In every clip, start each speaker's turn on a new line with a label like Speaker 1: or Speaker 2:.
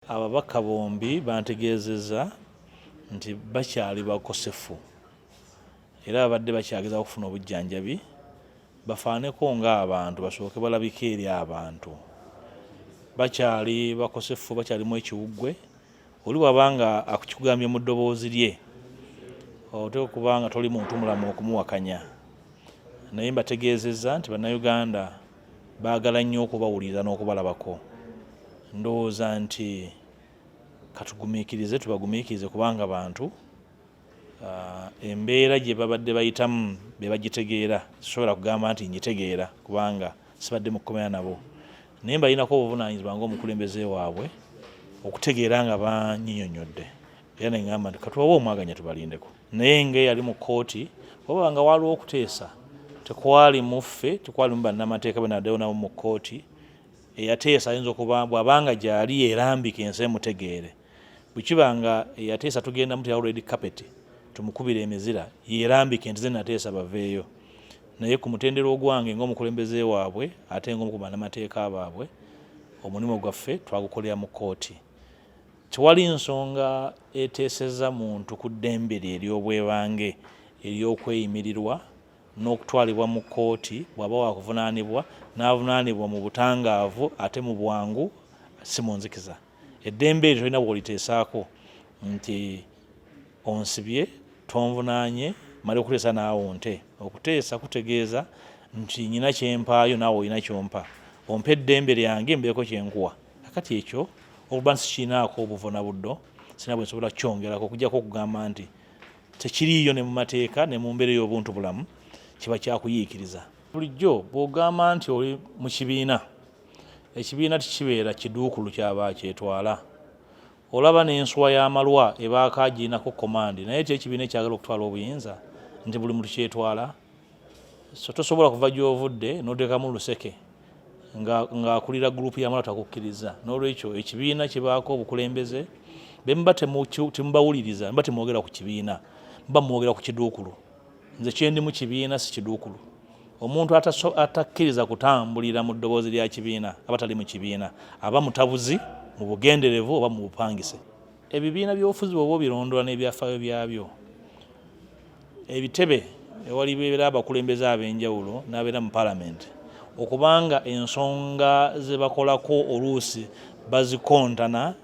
Speaker 1: Ababaka bombi bantegeezezza nti bakyali bakosefu era babadde bakyageza okufuna obujjanjabi bafaaneko ng'abantu basooke balabike eri abantu bakyali bakosefu bakyalimu ekiwuggwe oli bwaba nga akukigambye mu ddoboozi lye oteeka okuba nga toli muntu mulamu okumuwakanya naye mbategeezezza nti bannayuganda baagala nnyo okubawuliriza n'okubalabako ndowooza nti katugumiikirize tubagumiikirize kubanga bantu ah, embeera gye babadde bayitamu be bagitegeera sisobola kugamba nti ngitegeera kubanga sibadde mu kukomera nabo naye mbalinako obuvunaanyizibwa ngaomukulembeze waabwe okutegeera nga banyinyonyodde era neŋamba nti katubawe omwaganya tubalindeko naye nga eyali mu kkooti wababa nga waliwo okuteesa tekwali muffe tekwali mu bannamateeka be naddayo nabo mu kkooti eyateesa ayinza okuba bwabanga gyali erambika ensi emutegeere bwekiba nga eyateesa tugenda muti already kapeti tumukubira emizira yerambika nti ze nateesa baveeyo naye ku mutendera ogwange ngaomukulembeze waabwe ate ngaomu ku bannamateeka baabwe omulimu gwaffe twagukolera mu kkooti Tewali nsonga eteeseza muntu ku ddembe lye ery'obwebange ery'okweyimirirwa n'okutwalibwa mu kkooti bw'aba waakuvunaanibwa n'avunaanibwa mu butangaavu ate mu bwangu si mu nzikiza. Eddembe eryo tolina bw'oliteesaako nti onsibye tonvunaanye male okuteesa naawe onte. Okuteesa kutegeeza nti nyina kye mpaayo naawe olina ky'ompa. Ompa eddembe lyange mbeeko kye nkuwa. kati ekyo okuba nti sikiinaako obuvuna buddo sina bwe nsobola kukyongerako okujjako okugamba nti tekiriiyo ne mu mateeka ne mu mbeera ey'obuntu bulamu kiba kyakuyiikiriza bulijjo bw'ogamba nti oli mu kibiina ekibiina tikibeera kiduukulu kyaba kyetwala olaba n'enswa y'amalwa ebaako agiinako komandi naye ti ekibiina ekyagala okutwala obuyinza nti buli muntu kyetwala so tosobola kuva gyovudde notekamu luseke ng'akulira nga gurupu yamala takukkiriza n'olwekyo ekibiina kibaako obukulembeze bemuba temubawuliriza muba temwogera ku kibiina muba mwogera ku kiduukulu nze kyendi mu kibiina si kiduukulu omuntu atakkiriza kutambulira mu ddoboozi lya kibiina aba tali mu kibiina aba mutabuzi mu bugenderevu oba mu bupangise ebibiina by'obufuzi bwoba obirondola n'ebyafaayo byabyo ebitebe ewalibeera abakulembeze ab'enjawulo n'abeera mu palamenti okubanga ensonga ze bakolako oluusi bazikontana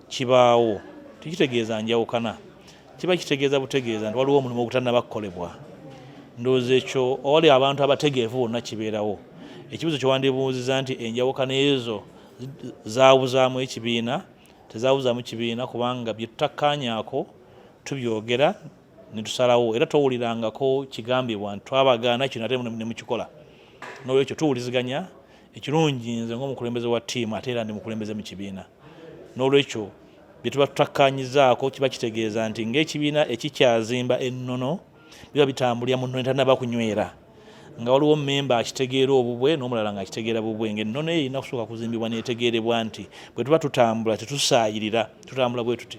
Speaker 1: kibaawo tekitegeeza njawukana kiba kitegeeza butegeeza nti waliwo omulimu ogutannaba kukolebwa ndowooza ekyo owali abantu abategeevu bonna kibeerawo ekibuzo kyewandibuuziza nti enjawukana ezo zabuzaamu ekibiina tezawuzamu kibiina kubanga bye tutakkaanyaako tubyogera ne tusalawo era towulirangako kigambibwa nti twabagaana kino ate ne mukikola n'olwekyo tuwuliziganya ekirungi nze ng'omukulembeze wa ttiimu ate era ndi mukulembeze mu kibiina n'olwekyo bye tuba tutakkaanyizaako kiba kitegeeza nti ng'ekibiina ekikyazimba ennono biba bitambulira mu nnono etanaba kunywera nga waliwo memba akitegeera obubwe n'omulala nga akitegeera bubwe nga ennono eyo erina kusooka kuzimbibwa neetegeerebwa nti bwe tuba tutambula tetusaayirira tutambula bwe tuti